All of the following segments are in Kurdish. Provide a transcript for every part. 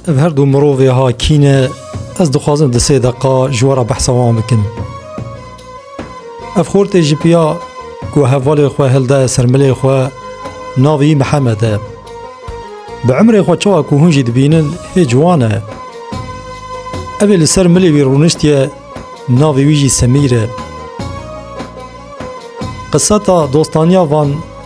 Ev her du mirovê ha kî ne ez dixwazim di sê deqa ji we re behsa wan bikim. Ev xortê ji piya ku hevalê xwe hildaye ser milê xwe navî Mihemed e. Bi emrê xwe çawa ku hûn jî dibînin hê ciwan e. Evê li ser milê wî rûniştiye navê wî jî Semîr e. Qiseta dostaniya van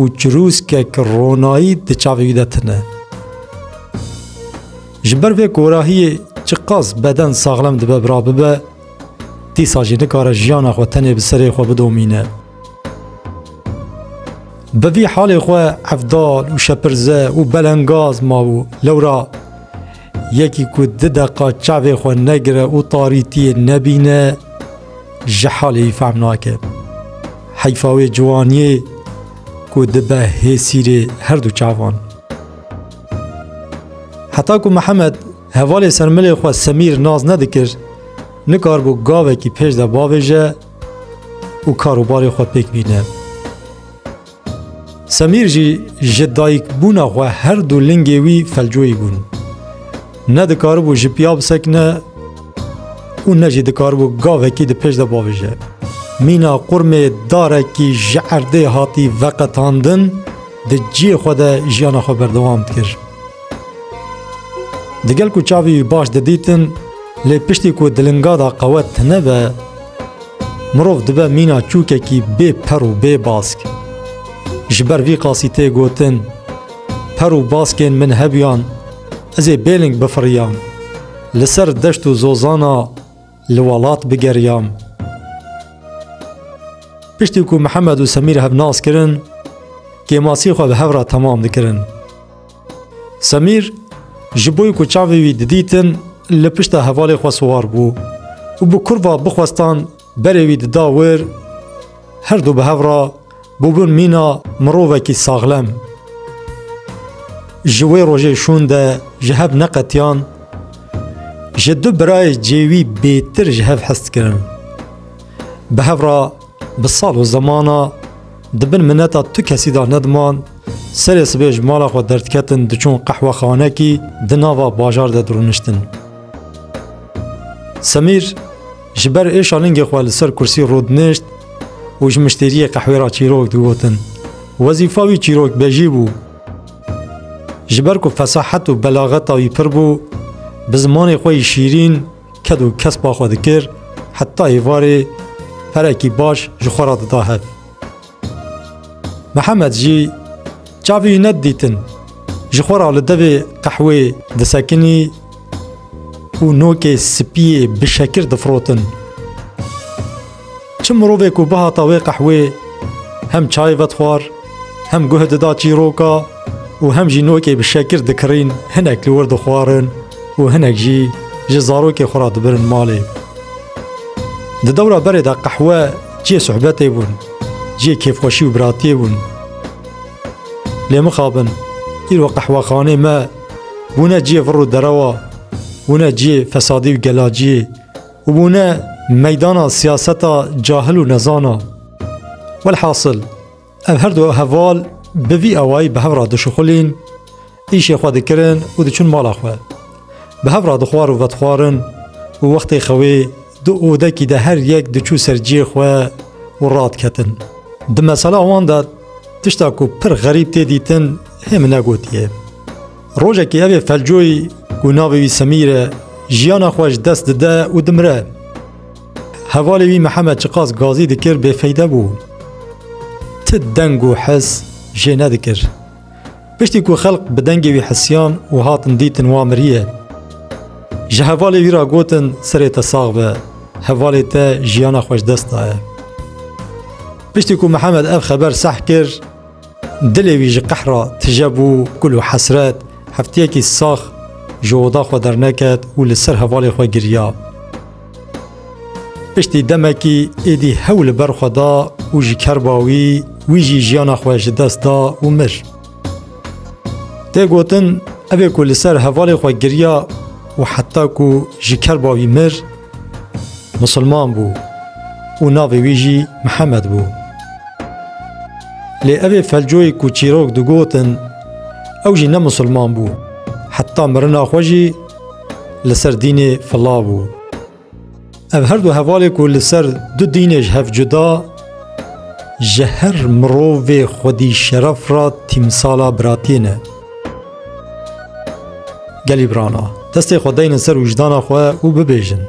û çirûskek ronayî di çavê wî de tune. Ji ber vê korahiyê çiqas beden saxlem dibe bira bibe, dîsa jî nikare jiyana xwe tenê bi serê xwe bidomîne. Bi vî halê xwe evdal û şepirze û belengaz mabû lewra Yekî ku du deqa çavê xwe negire û tarîtiyê nebîne ji halê wî fehm nake. Heyfa wê ciwaniyê ku dibe hê sîrê her du çavan. Heta ku Mihemed hevalê ser milê xwe Semîr nas nedikir, nikaribû gavekî pêş de bavêje û karûbarê xwe pêk bîne. Semîr jî ji dayikbûna xwe her du lingê wî felcoyî bûn. Ne dikaribû ji piya bisekine û ne jî dikaribû gavekî di pêş de bavije. Mîna qurmê darekî ji erdê hatî veqetandin di ciyê xwe de jiyana xwe berdewam dikir. Digel ku çavî wî baş didîtin lê piştî ku di linga de qewet nebe, Mirov dibe mîna çûkekî bê per û bê bask. Ji ber vî qasî tê gotin, Per û baskên min hebûyan, ez ê bêling bifiriyam, li ser deşt û zozana li welat bigeriyam. Piştî ku Mihemed û Semîr hevnas kirin, kêmasî xwe bi hev re temam dikirin. Semîr ji bo ku çavê wî didîtin li pişta hevalê xwe siwar bû û bi kurva bixwestan berê wî dida wir, her du bi hev re bûbûn mîna mirovekî saxlem. Ji wê rojê şûn de ji hev neqetiyan, ji du birayê cêwî bêtir ji hev hest kirin. Bi hev re bi sal û zemana, Di bin mineta tu kesî de nediman, serê sibê ji mala xwe derdiketin diçûn qehwexanekî di nava bajar de dirûniştin. Semîr ji ber êşa lingê xwe li ser kursî rûdinişt û ji miştêriyê qehwê ra çîrok digotin. Wezîfa wî çîrokbêjî bû. Ji ber ku fesahet û belaxeta wî pir bû, bi zimanê xwe yî şîrîn ked û kespa xwe dikir heta êvarê perekî baş ji xwe re dida hev. Mihemed jî çavê wî nedidîtin ji xwe re li devê qehwê disekinî û nokê spiyê bişekir difirotin. Çi mirovê ku bihata wê qehwê hem çay vedixwar, hem guh dida çîroka û hem jî nokê bi şekir dikirîn hinek li wir dixwarin û hinek jî ji zarokê xwe re dibirin malê. Di dewra berê de qehwe cihê sohbetê bûn, cihê kêfxweşî û biratiyê bûn. Lê mixabin, îro qehwexanê me bûne cihê vir û derewa, bûne cihê fesadî û gelaciyê. û bûne meydana siyaseta cahil û nezan a. Welhasil, ev her du heval bi vî awayî bi hev re dişuxulîn, îşê xwe dikirin û diçûn mala xwe. Bi hev re dixwar û vedixwarin û wextê xewê di odekî de her yek diçû ser cihê xwe û radiketin. Di mesela wan de tişta ku pir xerîb tê dîtin hê min negotiye. Rojekê ev ê felcoyî ku navê wî Semîr e, jiyana xwe ji dest dide û dimire. Hevalê wî Mihemed çiqas gazî dikir bêfeyde bû. Ti deng û his jê nedikir. Piştî ku xelk bi dengê wî hisiyan û hatin dîtin wa miriye. Ji hevalê wî re gotin serê te sax be, hevalê te jiyana xwe ji dest daye. Piştî ku Mihemed ev xeber seh kir, Dilê wî ji qehra tije bû, kul û hesret. Hefteyekî sax ji oda xwe derneket û li ser hevalê xwe giriya. Piştî demekî êdî hew li ber xwe da û ji kerba wî, wî jî jiyana xwe ji dest da û mir. Tê gotin ev ê ku li ser hevalê xwe giriya û heta ku ji kerba wî mir, misilman bû û navê wî jî Mihemed bû. Lê evê felcoyê ku çîrok digotin ew jî ne misilman bû. Heta mirina xwe jî li ser dînê fila bû. Ev her du hevalê ku li ser du dînê ji hev cuda ji her mirovê xwedî şeref re tîmsala biratiyê ne. Gelî birana, destê xwe deynin ser wijdana xwe û bibêjin.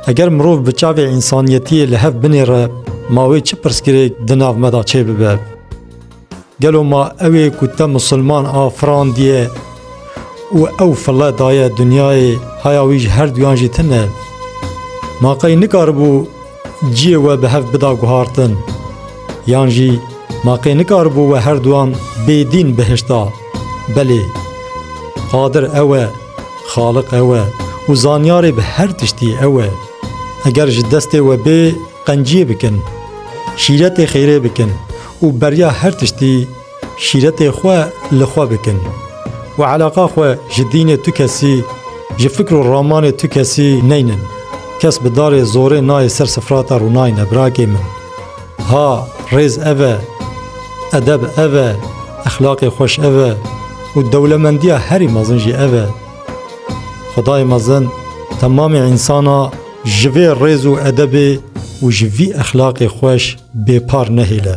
Eger mirov bi çavê însaniyetiyê li hev binêre ma wê çi pirsgirêk di nav me de çê bibe? Gelo ma ew ê ku te misilman a firandiye û ew file daye dinyayê haya wî ji her duyan jî tune? Ma qey nikaribû ciyê we bi hev bida guhartin? Yan jî ma qey nikaribû we her duyan bêdîn bihişta? Belê Qadir ew e. Xaliq ew e û zanyarê bi her tiştî ew e. Eger ji destê we bê qenciyê bikin, şîretê xêrê bikin û beriya her tiştî şîretê xwe li xwe bikin û eleqa xwe ji dînê tu kesî, ji fikr û ramanê tu kesî neynin. Kes bi darê zorê nayê ser sifrata rûnayî ne birakê min. Ha rêz ev e, edeb ev e, exlaqê xweş ev e û dewlemendiya herî mezin jî ev e. Xwedayê mezin temamê însana ji vê rêz û edebê û ji vî exlaqê xweş bêpar nehêle.